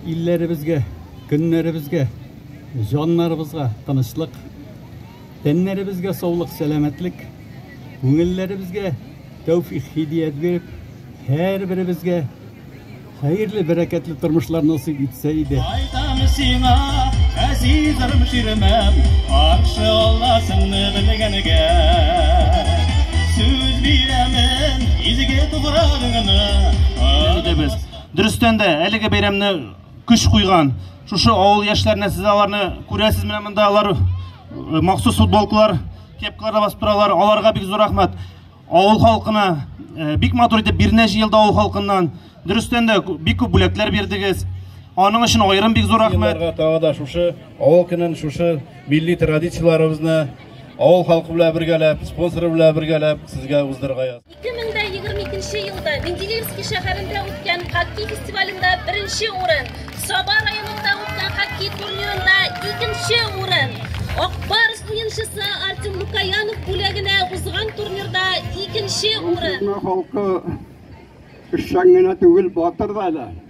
Илләребезгә, көннәребезгә, җаннарыбызга тынычлык, тәннәребезгә саулык, сәламәтлек, күңелләребезгә тәүфик хидият биреп, һәрберебезгә хәерле, бәрәкәтле тормышлар насыйп итсә иде. Кайтам сиңа, әзизрым ширмәм, каршы аласыңны белгәнгә. Сүз бирәмен, изге туграгыңны. Без Дөрестән дә, әлеге бәйрәмне көч куйган, шушы авыл яшьләренә сез аларны күрәсез менә монда алар э, махсус футболкалар, кепкаларда басып торалар. Аларга бик зур рәхмәт. Авыл халкына э, бик матур итеп бирнә җыелды авыл халкыннан. Дөрестән дә бик күп бүләкләр бирдегез. Аның өчен аерым бик зур рәхмәт. Тагы да шушы авыл көнен, шушы милли традицияләребезне авыл халкы белән бергәләп, спонсоры белән бергәләп сезгә уздырырга язды. 2022 елда Менделеевский шәһәрендә үткән хоккей фестивалендә беренче урын, Саба районында үткән хоккей турнирында икенче урын, Акбарс уенчысы Артем Лукаянов бүләгенә узган турнирда икенче урын. Халкы эшчән генә түгел, батыр да әле.